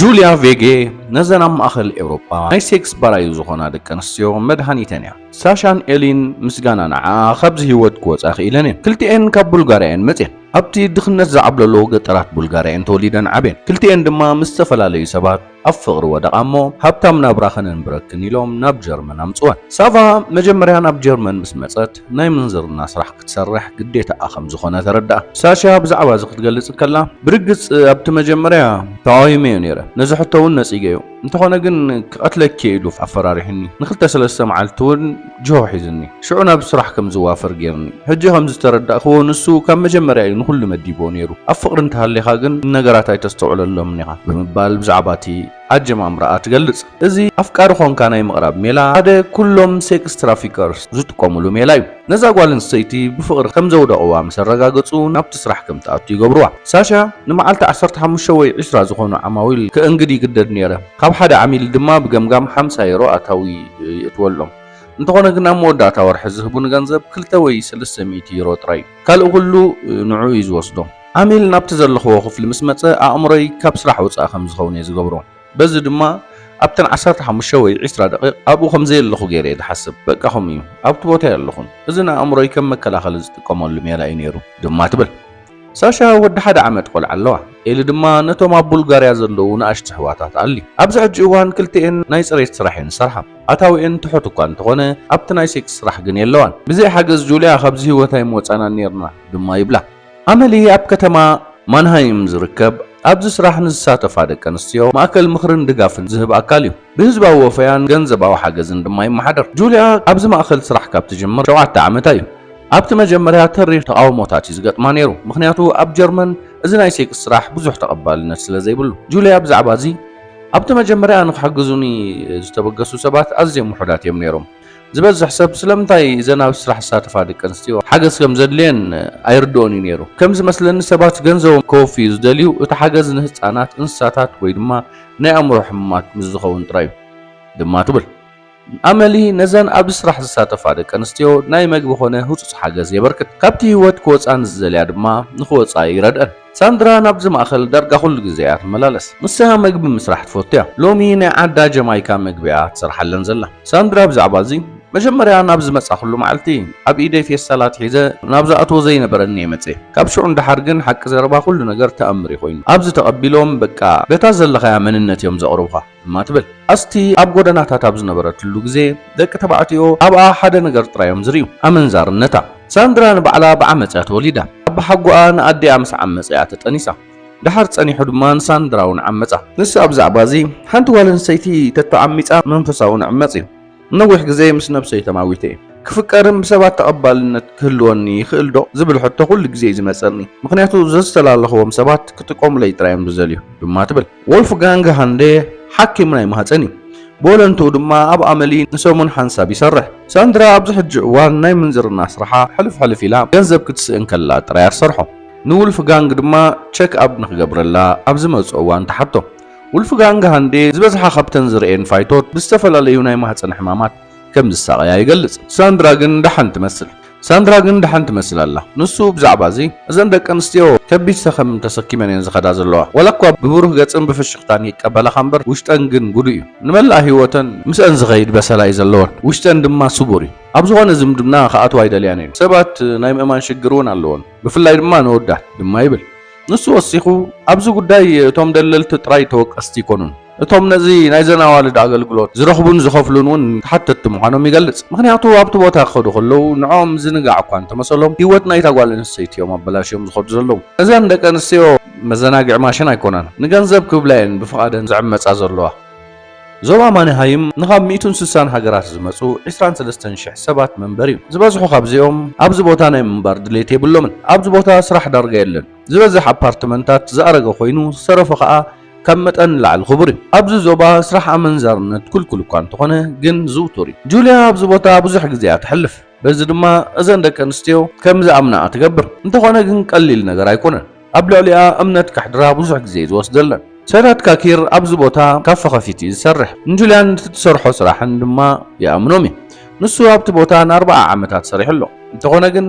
ጁልያ ቬጌ ነዘን ኣብ ማእኸል ኤውሮጳ ናይ ሴክስ ባራዩ ዝኾና ደቂ ኣንስትዮ መድሃኒተን እያ። ሳሻን ኤሊን ምስጋና ንዓኣ ካብዚ ህይወት ክወፃ ክኢለን እየን። ክልቲኤን ካብ ቡልጋርያ እየን መፅየን። ኣብቲ ድኽነት ዝዓብለሎ ገጠራት ቡልጋርያ እየን ተወሊደን ዓብየን። ክልቲኤን ድማ ምስ ዝተፈላለዩ ሰባት ኣብ ፍቕሪ ወደቓ እሞ ሃብታም ናብራ ከነንብረክን ኢሎም ናብ ጀርመን ኣምጽወን። ሳቫ መጀመርያ ናብ ጀርመን ምስ መጸት ናይ ምንዝርና ስራሕ ክትሰርሕ ግዴታኣ ከም ዝኾነ ተረድኣ። ሳሻ ብዛዕባ እዚ ክትገልጽ እንከላ፣ ብርግጽ ኣብቲ መጀመርያ ተቓዊመዮ ነይረ፣ ነዚ ሕቶ እውን ነጺገዮ፣ እንተኾነ ግን ክቐትለኪ'የ ኢሉ ኣፈራሪሑኒ፣ ንኽልተ ሰለስተ መዓልቲ እውን፣ ጅሆ ሒዙኒ ሽዑ ናብ ስራሕ ከም ዝዋፈር ጌሩኒ ሕጂ ከም ዝተረዳእክዎ ንሱ ካብ መጀመርያ እዩ ንኹሉ መዲብዎ ኔሩ ኣብ ፍቕሪ እንተሃሊኻ ግን ንነገራት ኣይተስተውዕለሎምን ኢኻ ብምባል ብዛዕባቲ ኣጀማምራኣ ትገልጽ እዚ ኣፍቃሪ ኾንካ ናይ ምቕራብ ሜላ ሓደ ኩሎም ሴክስ ትራፊከርስ ዝጥቀሙሉ ሜላ እዩ ነዛ ጓል ኣንስተይቲ ብፍቕሪ ከም ዘውደቕዋ ምስ ኣረጋገጹ ናብቲ ስራሕ ከም ትኣቱ ይገብርዋ ሳሻ ንመዓልቲ ዓሰርተ ሓሙሽተ ወይ ዕስራ ዝኾኑ ዓማዊል ከእንግድ ይግደድ ኔረ ካብ ሓደ ዓሚል ድማ ብገምጋም ሓምሳ ዩሮ ኣታዊ ይእትወሎም። እንተኾነ ግን ኣብ መወዳእታ ወርሒ ዝህቡኒ ገንዘብ ክልተ ወይ ሰለስተ ሚእቲ ዩሮ ጥራይ እዩ። ካልእ ኩሉ ንዕኡ እዩ ዝወስዶ። ዓሚል ናብቲ ዘለኽዎ ክፍሊ ምስ መጸ ኣእምሮይ ካብ ስራሕ ወጻኢ ከም ዝኸውን እየ ዝገብሮ። በዚ ድማ ኣብተን ዓሰርተ ሓሙሽተ ወይ ዕስራ ደቒቕ ኣብኡ ከም ዘየለኹ ገይረ እየ ዝሓስብ። በቃ ከምኡ እዩ፣ ኣብቲ ቦታ የለኹን። እዚ ንኣእምሮይ ከም መከላኸሊ ዝጥቀመሉ ሜላ እዩ ነይሩ ድማ ትብል። ሳሻ ወዲ ሓደ ዓመት ቆልዓ ኣለዋ። ኤሊ ድማ ነቶም ኣብ ቡልጋርያ ዘለዉ ንኣሽቱ ኣሕዋታት ኣሊ። ኣብዚ ሕጂ እዋን ክልቲኤን ናይ ጽሬት ስራሕ እየን ዝሰርሓ። ኣታዊኤን ትሑት እኳ እንተኾነ ኣብቲ ናይ ሴክስ ስራሕ ግን የለዋን። ብዘይ ሓገዝ ጁልያ ካብዚ ህይወት ኣይምወጻናን ኔርና ድማ ይብላ። ኣመሊ ኣብ ከተማ ማንሃይም ዝርከብ ኣብዚ ስራሕ ንዝሳተፋ ደቂ ኣንስትዮ ማእከል ምኽርን ድጋፍን ዝህብ ኣካል እዩ። ብህዝባዊ ወፈያን ገንዘባዊ ሓገዝን ድማ ይመሓደር። ጁልያ ኣብዚ ማእከል ስራሕ ካብ ትጅምር ሸውዓተ ዓመታ እዩ። ኣብቲ መጀመርያ ተሪር ተቓውሞታት እዩ ዝገጥማ ነይሩ፣ ምኽንያቱ ኣብ ጀርመን እዚ ናይ ሴክስ ስራሕ ብዙሕ ተቐባልነት ስለ ዘይብሉ። ጁልያ ብዛዕባ እዚ፣ ኣብቲ መጀመርያ ንኽሕግዙኒ ዝተበገሱ ሰባት ኣዝዮም ውሑዳት እዮም ነይሮም። ዝበዝሕ ሰብ ስለምንታይ እዘን ኣብዚ ስራሕ ዝሳተፋ ደቂ ኣንስትዮ ሓገዝ ከም ዘድልየን ኣይርድኦን እዩ ነይሩ። ከም ዝመስለኒ ሰባት ገንዘቦም ከወፍዩ ዝደልዩ እቲ ሓገዝ ንህጻናት፣ እንስሳታት ወይ ድማ ናይ ኣእምሮ ሕሙማት ምስ ዝኸውን ጥራይ እዩ ድማ ትብል። ኣመሊ ነዘን ኣብዚ ስራሕ ዝሳተፋ ደቂ ኣንስትዮ ናይ መግቢ ኮነ ህጹጽ ሓገዝ የበርክት። ካብቲ ህይወት ክወጻ ንዝደልያ ድማ ንኽወጻ ይረድኣን። ሳንድራ ናብዚ ማእከል ዳርጋ ኩሉ ግዜ እያ ትመላለስ። ንሳ መግቢ ምስራሕ ትፈቱ እያ። ሎሚ ናይ ዓዳ ጀማይካ መግቢ እያ ትሰርሓለን ዘላ። ሳንድራ ብዛዕባ እዚ፣ መጀመርያ ናብ ዝመጻኹሉ መዓልቲ፣ ኣብ ኢደይ ፌስታላት ሒዘ ናብ ዝኣትዎ ዘይነበረኒ እየ መጺኤ። ካብ ሽዑ ንደሓር ግን ሓቂ ዘረባ ኩሉ ነገር ተኣምር እዩ ኮይኑ። ኣብዚ ተቐቢሎም በቃ በታ ዘለኻያ መንነት እዮም ዘቕርቡኻ። እማ ትብል። ኣስቲ ኣብ ጎደናታት ኣብ ዝነበረትሉ ግዜ ደቂ ተባዕትዮ ኣብኣ ሓደ ነገር ጥራይ እዮም ዝርእዩ፣ ኣመንዛርነታ። ሳንድራ ንባዕላ ብዓመጽ እያ ተወሊዳ። ኣባሓጎኣ ንኣዲኣ ምስ ዓመጸ እያ ተጠኒሳ። ደሓር ጸኒሑ ድማ ንሳንድራ'ውን ዓመጻ። ንሳ ብዛዕባ'ዚ ሓንቲ ጓል ኣንስተይቲ ተተዓሚጻ መንፈሳ'ውን ዕመጽ እዩ። ንነዊሕ ግዜ ምስ ነብሰይ ተማዊተ እየ። ክፍቀርን ብሰባት ተቐባልነት ክህልወኒ ይኽእልዶ ዝብል ሕቶ ኩሉ ግዜ እዩ ዝመጸኒ፣ ምኽንያቱ ዘዝተላለኽዎም ሰባት ክጥቀሙለይ ጥራይ እዮም ዝደልዩ ድማ ትብል። ዎልፍጋንግ ሃንደ ሓኪም ናይ ማህጸን እዩ፣ ብወለንትኡ ድማ ኣብ ኣመሊ ንሰሙን ሓንሳብ ይሰርሕ። ሳንድራ ኣብዚ ሕጂ እዋን ናይ ምንዝርና ስራሓ ሕልፍ ሕልፍ ኢላ ገንዘብ ክትስእን ከላ ጥራይ እያ ትሰርሖ። ንውልፍጋንግ ድማ ቸክ-ኣፕ ንኽገብረላ ኣብ ዝመጽኦ እዋን ትሓቶ። ዉልፍጋንግ ሃንዴ ዝበዝሓ ካብተን ዝርእየን ፋይቶት ብዝተፈላለዩ ናይ ማህጸን ሕማማት ከም ዝሳቐያ ይገልጽ። ሳንድራ ግን ደሓን ትመስል። ሳንድራ ግን ደሓን ትመስል ኣላ። ንሱ ብዛዕባ እዚ፣ እዘን ደቂ ኣንስትዮ ከቢድ ሰኸም ተሰኪመን እየን ዝኸዳ ዘለዋ። ዋላ እኳ ብብሩህ ገጽን ብፍሽኽታን ይቀበላኻ እምበር፣ ውሽጠን ግን ጉዱ እዩ። ንመላእ ህይወተን ምስአን ዝኸይድ በሰላ እዩ ዘለወን፣ ውሽጠን ድማ ስቡር እዩ። ኣብ ዝኾነ ዝምድና ክኣትዋ ኣይደልያን እየን። ሰባት ናይ ምእማን ሽግር እውን ኣለወን፣ ብፍላይ ድማ ንወዳት፣ ድማ ይብል። ንሱ ወሲኹ፣ ኣብዚ ጉዳይ እቶም ደለልቲ ጥራይ ተወቀስቲ ኣይኮኑን፣ እቶም ነዚ ናይዘን ኣዋልድ ኣገልግሎት ዝረኽቡን ዝኸፍሉን እውን ተሓተትቲ ምዃኖም ይገልጽ። ምኽንያቱ ኣብቲ ቦታ ክኸዱ ከለዉ ንዕኦም ምዝንጋዕ እኳ እንተመሰሎም፣ ህይወት ናይታ ጓል ኣንስተይቲ እዮም ኣበላሽዮም ዝኸዱ ዘለዉ። እዘን ደቂ ኣንስትዮ መዘናግዒ ማሽን ኣይኮናን፣ ንገንዘብ ክብላ እየን ብፍቓደን ዝዕመጻ ዘለዋ። ዞባ ማንሃይም ንኻብ ሚእትን ስሳን ሃገራት ዝመጹ ዕስራን ሰለስተን ሽሕ ሰባት መንበሪ እዩ። ዝበዝሑ ካብዚኦም ኣብዚ ቦታ ናይ ምንባር ድሌት የብሎምን። ኣብዚ ቦታ ስራሕ ዳርጋ የለን። ዝበዝሕ ኣፓርትመንታት ዝኣረገ ኮይኑ ዝተረፎ ከኣ ካብ መጠን ንላዕሊ ክቡር እዩ። ኣብዚ ዞባ ስራሕ ኣመንዛርነት ክልኩል እኳ እንተኾነ ግን ዝውቱር እዩ። ጁልያ ኣብዚ ቦታ ብዙሕ ግዜ እያ ተሕልፍ። በዚ ድማ እዘን ደቂ ኣንስትዮ ከም ዝኣምናኣ ትገብር። እንተኾነ ግን ቀሊል ነገር ኣይኮነን። ኣብ ልዕሊኣ እምነት ከሕድራ ብዙሕ ግዜ እዩ ዝወስደለን። ሰዳት ካኪር ኣብዚ ቦታ ካፈ ከፊቱ እዩ ዝሰርሕ። ንጁልያን እቲ ትሰርሖ ስራሕን ድማ ይኣምኖም እዩ። ንሱ ኣብቲ ቦታ ንኣርብዓ ዓመታት ሰሪሑ ኣሎ። እንተኾነ ግን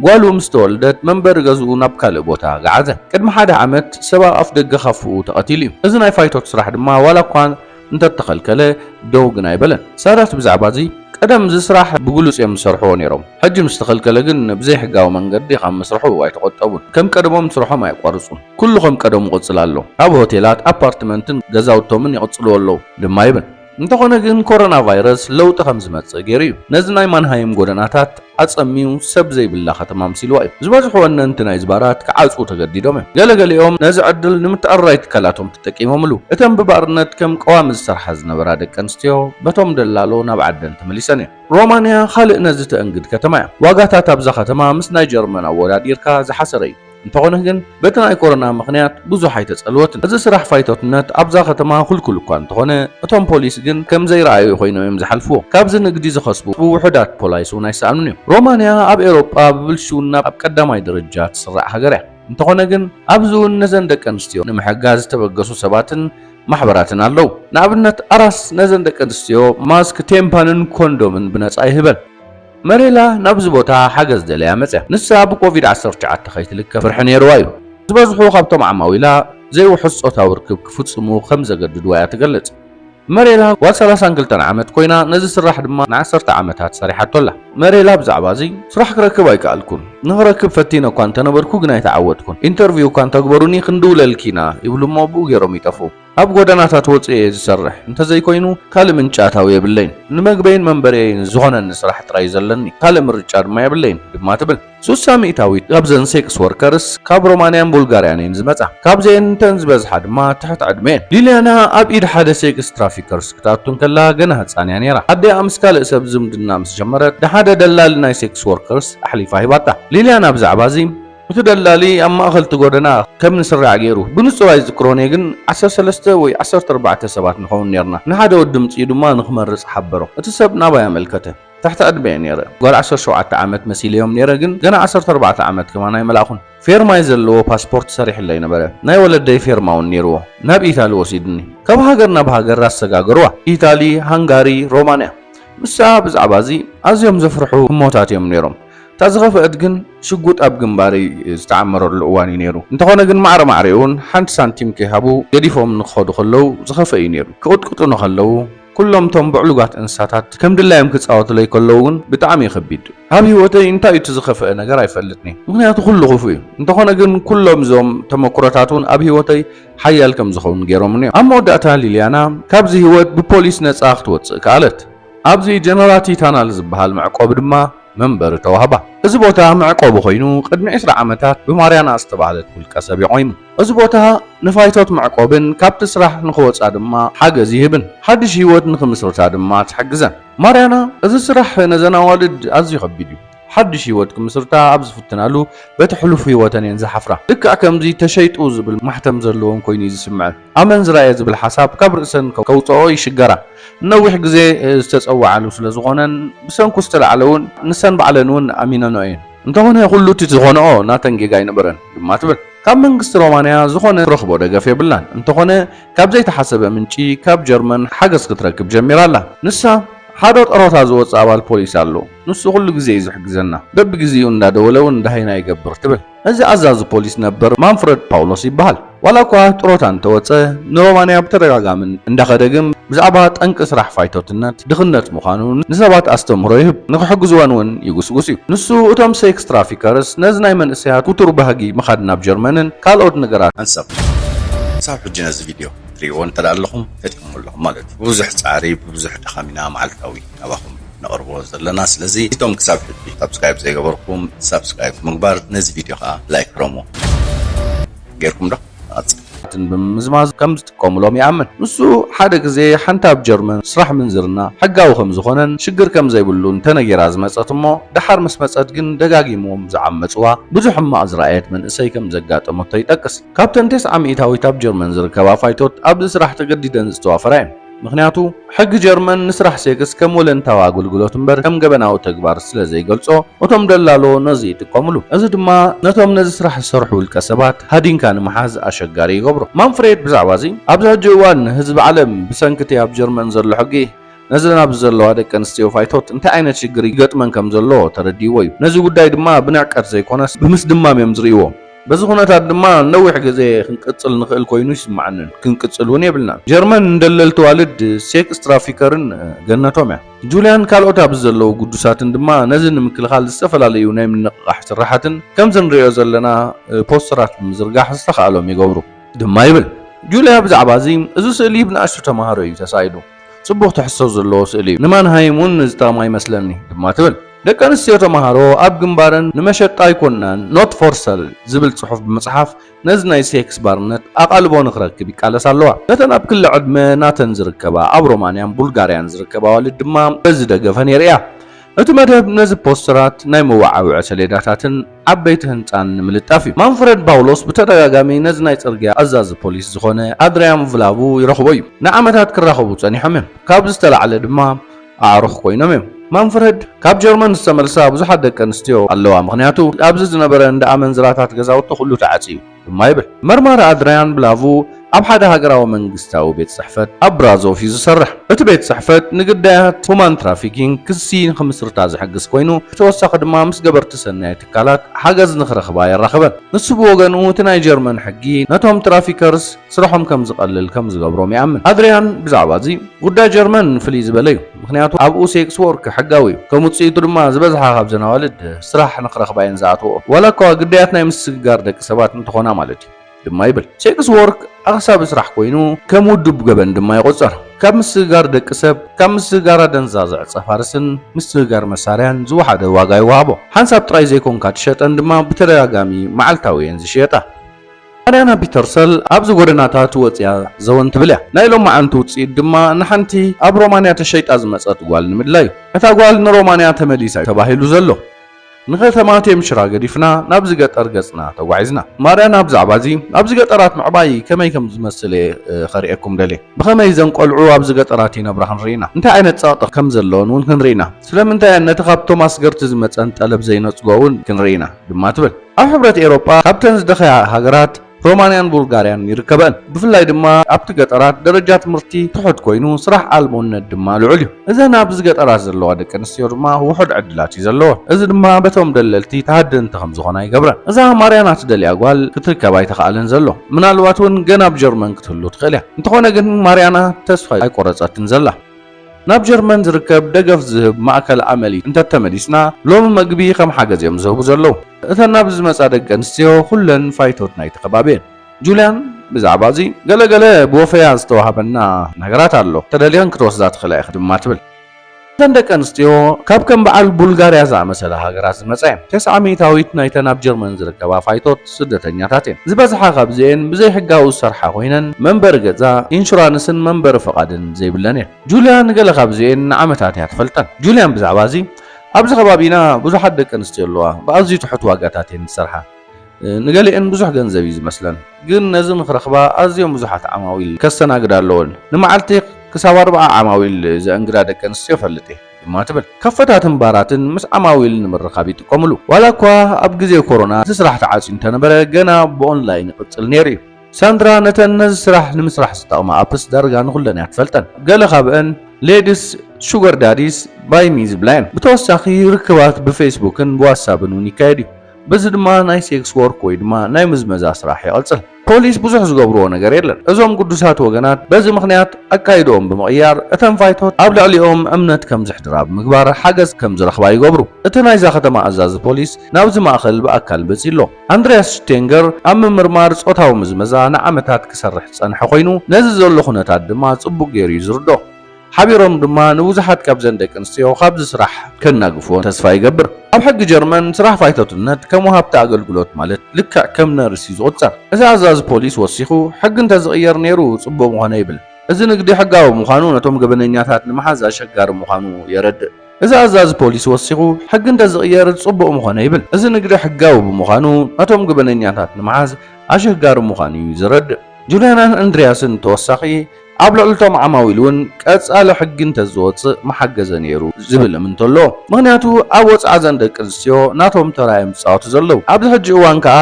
ጓሉ ምስ ተወልደት መንበሪ ገዝኡ ናብ ካልእ ቦታ ገዓዘ። ቅድሚ ሓደ ዓመት ሰብ ኣብ ኣፍደገ ካፈኡ ተቐቲሉ እዩ። እዚ ናይ ፋይቶት ስራሕ ድማ ዋላ እኳ እንተተኸልከለ ደው ግን ኣይበለን። ሳዳት ብዛዕባዚ ቀደም እዚ ስራሕ ብግሉጽ እዮም ዝሰርሕዎ ነይሮም። ሕጂ ምስ ተኸልከለ ግን ብዘይሕጋዊ መንገዲ ካብ ምስርሑ ኣይተቖጠቡን። ከም ቀደሞም ስርሖም ኣየቋርጹን። ኩሉ ከም ቀደሙ ይቕጽል ኣሎ። ኣብ ሆቴላት፣ ኣፓርትመንትን ገዛውቶምን ይቕጽልዎ ኣለዉ ድማ ይብል። እንተኾነ ግን ኮሮናቫይረስ ለውጢ ከም ዝመጽእ ገይሩ እዩ። ነዚ ናይ ማንሃይም ጎደናታት ኣጸምዩ ሰብ ዘይብላ ከተማ ኣምሲልዋ እዩ። ዝበዝሑ ወነንቲ ናይዚ ባራት ክዓጽዉ ተገዲዶም እዮም። ገለ ገሊኦም ነዚ ዕድል ንምትዕርራይ ትካላቶም ተጠቂሞምሉ። እተን ብባርነት ከም ቀዋሚ ዝሰርሓ ዝነበራ ደቂ ኣንስትዮ በቶም ደላሎ ናብ ዓደን ተመሊሰን እየን። ሮማንያ ካልእ ነዚ ተእንግድ ከተማ እያ። ዋጋታት ኣብዛ ከተማ ምስ ናይ ጀርመን ኣወዳዲርካ ዝሓሰረ እዩ። እንተኾነ ግን በቲ ናይ ኮሮና ምኽንያት ብዙሕ ኣይተጸልወትን። እዚ ስራሕ ፋይቶትነት ኣብዛ ከተማ ክልኩል እኳ እንተኾነ እቶም ፖሊስ ግን ከም ዘይረኣዩ ኮይኖም እዮም ዝሓልፍዎ። ካብዚ ንግዲ ዝኸስቡ ውሑዳት ፖላይስ እውን ኣይሰኣኑን እዮም። ሮማንያ ኣብ ኤውሮጳ ብብልሽውና ኣብ ቀዳማይ ደረጃ ትስራዕ ሃገር እያ። እንተኾነ ግን ኣብዚ እውን ነዘን ደቂ ኣንስትዮ ንምሕጋዝ ዝተበገሱ ሰባትን ማሕበራትን ኣለዉ። ንኣብነት ኣራስ ነዘን ደቂ ኣንስትዮ ማስክ፣ ቴምፓንን ኮንዶምን ብነጻ ይህበን። መሬላ ናብዚ ቦታ ሓገዝ ደልያ መጽያ። ንሳ ብኮቪድ ዓሰርተ ትሽዓተ ከይትልከፍ ፍርሒ ነይርዋ እዩ። ዝበዝሑ ካብቶም ዓማዊላ ዘይውሑስ ጾታዊ ርክብ ክፍጽሙ ከም ዘገድድዋ እያ ትገልጽ። መሬላ ጓል ሰላሳን ክልተን ዓመት ኮይና ነዚ ስራሕ ድማ ንዓሰርተ ዓመታት ሰሪሓቶ ኣላ። መሬላ ብዛዕባ እዚ፣ ስራሕ ክረክብ ኣይከኣልኩን። ንኽረክብ ፈቲነ እኳ እንተነበርኩ ግን ኣይተዓወትኩን። ኢንተርቪው እኳ እንተግበሩኒ ክንድውለልኪ ኢና ይብሉ እሞ ኣብኡ ገይሮም ይጠፍኡ። ኣብ ጎደናታት ወጺኤ እየ ዝሰርሕ፣ እንተዘይኮይኑ ካልእ ምንጪ ኣታዊ የብለይን። ንመግበይን መንበሪየይን ዝኾነኒ ስራሕ ጥራይ እዩ ዘለኒ፣ ካልእ ምርጫ ድማ የብለይን፣ ድማ ትብል። ሱሳ ሚእታዊት ካብዘን ሴክስ ወርከርስ ካብ ሮማንያን ቡልጋርያን እየን ዝመጻ፣ ካብዚኤን እተን ዝበዝሓ ድማ ትሕቲ ዕድመ እየን። ሊልያና ኣብ ኢድ ሓደ ሴክስ ትራፊከርስ ክትኣቱ እንከላ ገና ህጻን እያ ነይራ። ኣዲኣ ምስ ካልእ ሰብ ዝምድና ምስ ጀመረት ንሓደ ደላሊ ናይ ሴክስ ወርከርስ ኣሕሊፋ ሂባታ። ሊልያና ብዛዕባ እዚ። እቲ ደላሊ ኣብ ማእኸል እቲ ጎደና ከም ንስራዕ ገይሩ፣ ብንፁር ኣይዝክሮን እየ ግን ዓሰርተ ሰለስተ ወይ ዓሰርተ ኣርባዕተ ሰባት ንኸውን ኔርና፣ ንሓደ ወዲ ኣምፂኡ ድማ ንክመርፅ ሓበሮ። እቲ ሰብ ናባይ ኣመልከተ። ትሕቲ ዕድመ እየ ኔረ፣ ጓል ዓሰርተ ሸውዓተ ዓመት መሲለዮም ኔረ ግን ገና ዓሰርተ ኣርባዕተ ዓመት ከማን ኣይመላእኹን። ፌርማይ ዘለዎ ፓስፖርት ሰሪሕለይ ነበረ፣ ናይ ወለደይ ፌርማ እውን ኔርዎ። ናብ ኢታሊ ወሲድኒ። ካብ ሃገር ናብ ሃገር ኣሰጋገርዋ። ኢታሊ፣ ሃንጋሪ፣ ሮማንያ። ንሳ ብዛዕባ እዚ ኣዝዮም ዘፍርሑ ህሞታት እዮም ኔሮም። እታ ዝኸፈእት ግን ሽጉጥ ኣብ ግንባረይ ዝተዓመረሉ እዋን እዩ ነይሩ። እንተኾነ ግን ማዕረ ማዕሬኡን ሓንቲ ሳንቲም ከይሃቡ ገዲፎምኒ ክኸዱ ከለው ዝኸፈእ እዩ ነይሩ። ክቕጥቅጡኒ ከለው ኩሎም እቶም ብዕሉጋት እንስሳታት ከም ድላዮም ክጻወቱለይ ከለው ግን ብጣዕሚ እዩ ከቢድ። ኣብ ህይወተይ እንታይ እዩ እቲ ዝኸፈእ ነገር ኣይፈልጥን እየ። ምኽንያቱ ኩሉ ክፉእ እዩ። እንተኾነ ግን ኩሎም እዞም ተመኩሮታት እውን ኣብ ህይወተይ ሓያል ከም ዝኸውን ገይሮምኒ እዮም። ኣብ መወዳእታ ሊልያና ካብዚ ህይወት ብፖሊስ ነጻ ክትወጽእ ከኣለት። ኣብዚ ጀነራቲ ታናል ዝበሃል መዕቆቢ ድማ መንበሪ ተዋህባ። እዚ ቦታ መዕቆቢ ኮይኑ ቅድሚ ዕስራ ዓመታት ብማርያና ዝተባህለት ውልቀ ሰብ የቖይሙ። እዚ ቦታ ንፋይቶት መዕቆብን ካብቲ ስራሕ ንኽወጻ ድማ ሓገዝ ይህብን ሓድሽ ህይወት ንኽምስርታ ድማ ትሕግዘን። ማርያና እዚ ስራሕ ነዘን ኣዋልድ ኣዝዩ ከቢድ እዩ። ሓድሽ ህይወት ክምስርታ ኣብ ዝፍትናሉ በቲ ሕሉፍ ህይወተን እየን ዝሓፍራ። ልክዕ ከምዚ ተሸይጡ ዝብል ማሕተም ዘለወን ኮይኑ'ዩ ዝስምዐን። ኣመንዝራ'የ ዝብል ሓሳብ ካብ ርእሰን ከውጽኣኦ ይሽገራ። ንነዊሕ ግዜ ዝተጸውዓሉ ስለ ዝኾነን ብሰንኩ ዝተላዕለ ውን ንሰን ባዕለን ውን ኣሚነንኦ እየን። እንተኾነ ኩሉ እቲ ዝኾነኦ ናተን ጌጋ ኣይነበረን ድማ ትብል። ካብ መንግስቲ ሮማንያ ዝኾነ ትረኽቦ ደገፍ የብላን፣ እንተኾነ ካብ ዘይተሓሰበ ምንጪ ካብ ጀርመን ሓገዝ ክትረክብ ጀሚራ ኣላ። ንሳ፣ ሓደ ጥሮታ ዝወጽእ ኣባል ፖሊስ ኣሎ፣ ንሱ ኩሉ ግዜ እዩ ዝሕግዘና፣ በብግዜኡ እንዳደወለ ውን ደሃይና ይገብር ትብል። እዚ ኣዛዚ ፖሊስ ነበር ማንፍረድ ፓውሎስ ይበሃል። ዋላ እኳ ጥሮታ እንተወጸ ንሮማንያ ብተደጋጋሚ እንዳኸደ ግን ብዛዕባ ጠንቂ ስራሕ ፋይቶትነት ድኽነት ምዃኑ ንሰባት ኣስተምህሮ ይህብ፣ ንኽሕግዝወን እውን ይጉስጉስ እዩ። ንሱ እቶም ሴክስ ትራፊከርስ ነዚ ናይ መንእሰያት ኩቱር ባህጊ ምኻድ ናብ ጀርመንን ካልኦት ነገራትን፣ ኣንሰብ ክሳብ ሕጂ ነዚ ቪድዮ ክትርእይዎ እንተድኣ ኣለኹም ፈጢርኩሞ ኣለኹ ማለት እዩ። ብብዙሕ ጻዕሪ ብብዙሕ ድኻም ኢና መዓልታዊ። ካባኹም ነቕርቦ ዘለና ስለዚ እቶም ክሳብ ሕጂ ሳብስክራይብ ዘይገበርኩም ሳብስክራይብ ብምግባር ነዚ ቪድዮ ከኣ ላይክ ረሙ ጌርኩም ዶ ንቐጽል ትን ብምምዝማዝ ከም ዝጥቀሙሎም ይኣምን። ንሱ ሓደ ግዜ ሓንቲ ኣብ ጀርመን ስራሕ ምንዝርና ሕጋዊ ከም ዝኾነን ሽግር ከም ዘይብሉን ተነጊራ ዝመጸት እሞ ደሓር ምስ መጸት ግን ደጋጊሞም ዝዓመጽዋ ብዙሕ ሕማቕ ዝረኣየት መንእሰይ ከም ዘጋጠመቶ ይጠቅስ። ካብተን ቴስዓ ሚኢታዊት ኣብ ጀርመን ዝርከባ ፋይቶት ኣብዚ ስራሕ ተገዲደን ዝተዋፈራ እየን። ምኽንያቱ ሕጊ ጀርመን ንስራሕ ሴክስ ከም ወለንታዊ ኣገልግሎት እምበር ከም ገበናዊ ተግባር ስለ ዘይገልጾ፣ እቶም ደላሎ ነዚ ይጥቀምሉ። እዚ ድማ ነቶም ነዚ ስራሕ ዝሰርሑ ውልቀሰባት ሃዲንካ ንምሓዝ ኣሸጋሪ ይገብሮ። ማንፍሬድ ብዛዕባ እዚ፣ ኣብዚ ሕጂ እዋን ህዝቢ ዓለም ብሰንኪ እቲ ኣብ ጀርመን ዘሎ ሕጊ ነዘን ኣብዚ ዘለዋ ደቂ ኣንስትዮ ፋይቶት እንታይ ዓይነት ሽግር ይገጥመን ከም ዘሎ ተረዲእዎ እዩ። ነዚ ጉዳይ ድማ ብንዕቀት ዘይኮነስ ብምስድማም እዮም ዝርእይዎ። በዚ ኩነታት ድማ ንነዊሕ ግዜ ክንቅጽል ንኽእል ኮይኑ ይስምዓንን ክንቅጽል እውን የብልናን። ጀርመን ንደለልቲ ኣዋልድ፣ ሴክስ ትራፊከርን፣ ገነቶም እያ። ጁልያን ካልኦት ኣብዚ ዘለዉ ግዱሳትን ድማ ነዚ ንምክልኻል ዝተፈላለዩ ናይ ምንቕቓሕ ስርሓትን ከምዚ ንርእዮ ዘለና ፖስተራት ብምዝርጋሕ ዝተኻእሎም ይገብሩ። ድማ ይብል። ጁልያ ብዛዕባ እዚ፣ እዚ ስእሊ ብንኣሽቱ ተማሃሮ እዩ ተሳኢሉ። ጽቡቕ ትሕዝቶ ዘለዎ ስእሊ እዩ። ንማንሃይም እውን ዝጠቕማ ይመስለኒ ድማ ትብል። ደቂ ኣንስትዮ ተመሃሮ ኣብ ግንባረን ንመሸጣ ኣይኮናን ኖት ፎር ሰል ዝብል ጽሑፍ ብምጽሓፍ ነዚ ናይ ሴክስ ባርነት ኣቓልቦ ንኽረክብ ይቃለሳ ኣለዋ። ነተን ኣብ ክሊ ዕድመ ናተን ዝርከባ ኣብ ሮማንያን ቡልጋርያን ዝርከባ ኣዋልድ ድማ በዚ ደገፈን የርእያ። እቲ መደብ ነዚ ፖስተራት፣ ናይ መወዓውዒ ሰሌዳታትን ዓበይቲ ህንጻን ንምልጣፍ እዩ። ማንፍረድ ባውሎስ ብተደጋጋሚ ነዚ ናይ ጽርግያ ኣዛዚ ፖሊስ ዝኾነ ኣድርያን ቭላቡ ይረኽቦ እዩ። ንዓመታት ክራኸቡ ጸኒሖም እዮም፣ ካብዚ ዝተላዕለ ድማ ኣዕሩኽ ኮይኖም እዮም። ማንፍረድ ካብ ጀርመን ዝተመልሳ ብዙሓት ደቂ ኣንስትዮ ኣለዋ፣ ምኽንያቱ ኣብዚ ዝነበረ እንዳ ኣመንዝራታት ገዛውቲ ኩሉ ተዓጽዩ። ድማ ይብል። መርማሪ ኣድርያን ብላቭ ኣብ ሓደ ሃገራዊ መንግስታዊ ቤት ጽሕፈት ኣብ ብራዞቭ እዩ ዝሰርሕ። እቲ ቤት ጽሕፈት ንግዳያት ሁማን ትራፊኪንግ ክሲ ንኽምስርታ ዝሕግዝ ኮይኑ፣ ብተወሳኺ ድማ ምስ ገበርቲ ሰናይ ትካላት ሓገዝ ንኽረኽባ የራኽበን። ንሱ ብወገኑ እቲ ናይ ጀርመን ሕጊ ነቶም ትራፊከርስ ስራሖም ከም ዝቐልል ከም ዝገብሮም ይኣምን። ኣድርያን ብዛዕባ እዚ፣ ጉዳይ ጀርመን ፍልይ ዝበለ እዩ። ምኽንያቱ ኣብኡ ሴክስ ዎርክ ሕጋዊ እዩ፣ ከም ውጽኢቱ ድማ ዝበዝሓ ካብዘን ኣዋልድ ስራሕ ንኽረኽባ እየን ዝኣትወኦ፣ ዋላኳ ግዳያት ናይ ምስግጋር ደቂ ሰባት እንተኾና ማለት እዩ። ድማ ይብል። ሴክስ ዎርክ ኣኽሳቢ ስራሕ ኮይኑ ከም ውዱብ ገበን ድማ ይቑጸር። ካብ ምስግጋር ደቂ ሰብ፣ ካብ ምስግጋር ኣደንዛዘ ዕጸ ፋርስን ምስግጋር መሳርያን ዝወሓደ ዋጋ ይወሃቦ። ሓንሳብ ጥራይ ዘይኮንካ ትሸጠን ድማ ብተደጋጋሚ መዓልታዊ እየን ዝሽየጣ። ኣርያና ፒተርሰል ኣብዚ ጎደናታት ወጺኣ ዘወን ትብል እያ። ናይ ሎማዓንቲ ውጽኢት ድማ ንሓንቲ ኣብ ሮማንያ ተሸይጣ ዝመጸት ጓል ንምድላይ እዩ። እታ ጓል ንሮማንያ ተመሊሳ እዩ ተባሂሉ ዘሎ። ንከተማ ቴምሽራ ገዲፍና ናብዚ ገጠር ገጽና ተጓዒዝና። ማርያና ብዛዕባ እዚ ኣብዚ ገጠራት ምዕባይ ከመይ ከም ዝመስል እየ ከርእየኩም ደልየ። ብኸመይ እዘን ቆልዑ ኣብዚ ገጠራት ይነብራ ክንርኢ ኢና። እንታይ ዓይነት ጸቕጢ ከም ዘለወን እውን ክንርኢ ኢና። ስለምንታይ እየን ነቲ ካብ ቶማስ ገርቲ ዝመጸን ጠለብ ዘይነጽጎ እውን ክንርኢ ኢና ድማ ትብል። ኣብ ሕብረት ኤሮጳ ካብተን ዝደኸያ ሃገራት ሮማንያን ቡልጋርያን ይርከበእን። ብፍላይ ድማ ኣብቲ ገጠራት ደረጃ ትምህርቲ ትሑት ኮይኑ ስራሕ ኣልቦነት ድማ ልዑል እዩ። እዘን ኣብዚ ገጠራት ዘለዋ ደቂ ኣንስትዮ ድማ ውሑድ ዕድላት እዩ ዘለወን። እዚ ድማ በቶም ደለልቲ ተሃደንቲ ከም ዝኾና ይገብረን። እዛ ማርያና ትደልያ ጓል ክትርከብ ኣይተኻእለን ዘሎ። ምናልባት እውን ገና ኣብ ጀርመን ክትህሉ ትኽእል እያ። እንተኾነ ግን ማርያና ተስፋ ኣይቆረጸትን ዘላ። ናብ ጀርመን ዝርከብ ደገፍ ዝህብ ማእከል ኣመል እንተተመሊስና ሎሚ መግቢ ከም ሓገዝ እዮም ዝህቡ ዘለዉ። እተን ናብዚ ዝመጻ ደቂ ኣንስትዮ ኩለን ፋይቶት ናይቲ ከባቢ እየን። ጁልያን ብዛዕባ እዚ ገለ ገለ ብወፈያ ዝተዋህበና ነገራት ኣሎ፣ ተደሊኽን ክትወስዳ ትኽእላ ኢኺ ድማ ትብል። እተን ደቂ ኣንስትዮ ካብ ከም በዓል ቡልጋርያ ዝኣመሰላ ሃገራት ዝመጻ እየን። ተስዓ ሚእታዊት ናይተን ኣብ ጀርመን ዝርከባ ፋይቶት፣ ስደተኛታት እየን። ዝበዝሓ ካብዚኤን ብዘይሕጋዊ ዝሰርሓ ኮይነን መንበሪ ገዛ፣ ኢንሹራንስን መንበሪ ፍቓድን ዘይብለን እየን። ጁልያ ንገለ ካብዚኤን ንዓመታት እያ ትፈልጠን። ጁልያን ብዛዕባ እዚ፣ ኣብዚ ከባቢና ብዙሓት ደቂ ኣንስትዮ ኣለዋ፣ ብኣዝዩ ትሑት ዋጋታት እየን ዝሰርሓ። ንገሊኤን ብዙሕ ገንዘብ እዩ ዝመስለን፣ ግን ነዚ ንኽረኽባ ኣዝዮም ብዙሓት ዓማዊል ከስተናግዳ ኣለወን። ንመዓልቲ ክሳብ ኣርብዓ ዓማዊል ዘእንግዳ ደቂ ኣንስትዮ እፈልጥ እየ። ድማ ትብል። ከፈታትን ባራትን ምስ ዓማዊል ንምርኻብ ይጥቀምሉ። ዋላ እኳ ኣብ ግዜ ኮሮና እቲ ስራሕ ተዓጽዩ እንተነበረ ገና ብኦንላይን ይቕጽል ነይሩ እዩ። ሳንድራ ነተን ነዚ ስራሕ ንምስራሕ ዝጠቕማ ኣፕስ ዳርጋ ንኹለን እያ ትፈልጠን። ገለ ካብአን ሌድስ፣ ሹገር ዳዲስ፣ ባይ ሚ ዝብላ እየን። ብተወሳኺ ርክባት ብፌስቡክን ብዋትሳብን እውን ይካየድ እዩ። በዚ ድማ ናይ ሴክስ ወርክ ወይ ድማ ናይ ምዝመዛ ስራሕ ይቕጽል። ፖሊስ ብዙሕ ዝገብርዎ ነገር የለን። እዞም ግዱሳት ወገናት በዚ ምኽንያት ኣካይድኦም ብምቕያር እተን ፋይቶት ኣብ ልዕሊኦም እምነት ከም ዘሕድራ ብምግባር ሓገዝ ከም ዝረኽባ ይገብሩ። እቲ ናይዛ ከተማ ኣዛዚ ፖሊስ ናብዚ ማእከል ብኣካል መጺኡ ኣሎ። ኣንድርያስ ሽቴንገር ኣብ ምምርማር ጾታዊ ምዝመዛ ንዓመታት ክሰርሕ ዝጸንሐ ኮይኑ ነዚ ዘሎ ኩነታት ድማ ጽቡቕ ገይሩ እዩ ዝርድኦ። ሓቢሮም ድማ ንብዙሓት ካብዘን ደቂ ኣንስትዮ ካብዚ ስራሕ ከናግፍወን ተስፋ ይገብር። ኣብ ሕጊ ጀርመን ስራሕ ፋይቶትነት ከም ወሃብቲ ኣገልግሎት ማለት ልክዕ ከም ነርስ እዩ ዝቑጸር። እቲ ኣዛዚ ፖሊስ ወሲኹ ሕጊ እንተዝቕየር ነይሩ ጽቡቕ ምኾነ ይብል። እዚ ንግዲ ሕጋዊ ምዃኑ ነቶም ገበነኛታት ንምሓዝ ኣሸጋሪ ምዃኑ የረድእ። እዚ ኣዛዚ ፖሊስ ወሲኹ ሕጊ እንተዝቕየር ጽቡቕ ምኾነ ይብል። እዚ ንግዲ ሕጋዊ ብምዃኑ ነቶም ገበነኛታት ንምሓዝ ኣሸጋሪ ምዃኑ እዩ ዘረድእ። ጁልያናን ኣንድርያስን ተወሳኺ ኣብ ልዕሊ'ቶም ዓማዊል'ውን ቀጻሊ ሕጊ እንተዝወጽእ ምሓገዘ ነይሩ ዝብል እምንቶ ኣሎ። ምኽንያቱ ኣብ ወጽዓ እዘን ደቂ ኣንስትዮ ናቶም ተራ እዮም ዝጻወቱ ዘለዉ። ኣብዚ ሕጂ እዋን ከኣ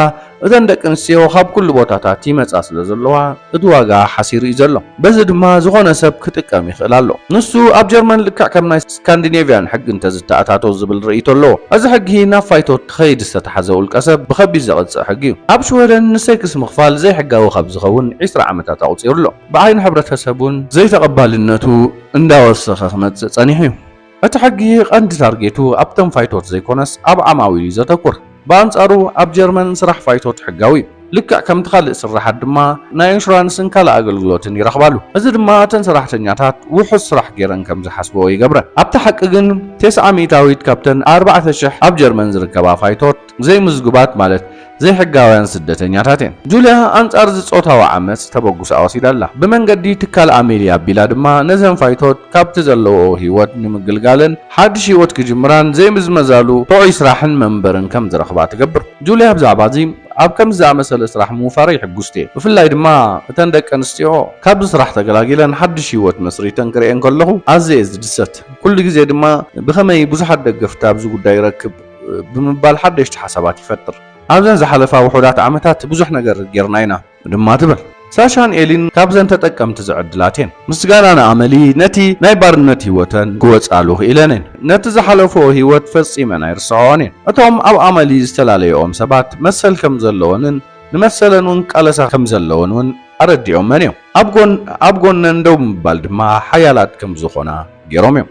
እተን ደቂ ኣንስትዮ ካብ ኩሉ ቦታታት ይመጻ ስለ ዘለዋ እቲ ዋጋ ሓሲሩ እዩ ዘሎ። በዚ ድማ ዝኾነ ሰብ ክጥቀም ይኽእል ኣሎ። ንሱ ኣብ ጀርመን ልክዕ ከም ናይ። ስካንዲኔቭያን ሕጊ እንተዝተኣታቶ ዝብል ርእይቶ ኣሎ። እዚ ሕጊ ናብ ፋይቶ ክኸይድ ዝተታሕዘ ውልቀሰብ ብኸቢድ ዘቕጽዕ ሕጊ እዩ። ኣብ ሽወደን ንሴክስ ምኽፋል ዘይሕጋዊ ካብ ዝኸውን ዕስራ ዓመታት ኣቑጺሩ ኣሎ። ብዓይኒ ሕብረተሰብ እውን ዘይተቐባልነቱ እንዳወሰኸ ክመጽእ ጸኒሑ እዩ። እቲ ሕጊ ቀንዲ ታርጌቱ ኣብቶም ፋይቶት ዘይኮነስ ኣብ ዓማዊል እዩ ዘተኩር። ብኣንጻሩ ኣብ ጀርመን ስራሕ ፋይቶት ሕጋዊ እዩ። ልክዕ ከምቲ ካልእ ስርሓት ድማ ናይ ኢንሹራንስን ካልእ ኣገልግሎትን ይረኽባሉ። እዚ ድማ እተን ሰራሕተኛታት ውሑስ ስራሕ ገይረን ከም ዝሓስበኦ ይገብረን። ኣብቲ ሓቂ ግን ቴስዓ ሚእታዊት ካብተን ኣርባዕተ ሽሕ ኣብ ጀርመን ዝርከባ ፋይቶት ዘይምዝጉባት ማለት ዘይሕጋውያን ስደተኛታት እየን። ጁልያ ኣንጻር እዚ ጾታዊ ዓመጽ ተበጉሳ ወሲዳ ኣላ። ብመንገዲ ትካል ኣሜልያ ኣቢላ ድማ ነዘን ፋይቶት ካብቲ ዘለውኦ ህይወት ንምግልጋለን ሓድሽ ህይወት ክጅምራን ዘይምዝመዛሉ ጥዑይ ስራሕን መንበርን ከም ዝረኽባ ትገብር። ጁልያ ብዛዕባ እዚ፣ ኣብ ከምዚ ዝኣመሰለ ስራሕ ምውፋረይ ሕጉስቲ እየ፣ ብፍላይ ድማ እተን ደቂ ኣንስትዮ ካብዚ ስራሕ ተገላጊለን ሓድሽ ህይወት መስሪተን ክርእየን ከለኹ ኣዝየ እየ ዝድሰት። ኩሉ ግዜ ድማ ብኸመይ ብዙሓት ደገፍቲ ኣብዚ ጉዳይ ይረክብ ብምባል ሓደሽቲ ሓሳባት ይፈጥር። ኣብዘን ዝሓለፋ ውሑዳት ዓመታት ብዙሕ ነገር ገይርና ኢና። ድማ ትብል። ሳሻን ኤሊን ካብዘን ተጠቀምቲ ዝዕድላት እየን። ምስጋና ንኣመሊ ነቲ ናይ ባርነት ህይወተን ክወጻሉ ክኢለን እየን። ነቲ ዝሓለፈኦ ህይወት ፈጺመን ኣይርስዖኦን እየን። እቶም ኣብ ኣመሊ ዝተላለዮኦም ሰባት መሰል ከም ዘለወንን ንመሰለን እውን ክቃለሳ ከም ዘለወን እውን ኣረዲኦመን እዮም። ኣብ ጎነን ደው ብምባል ድማ ሓያላት ከም ዝኾና ገይሮም እዮም።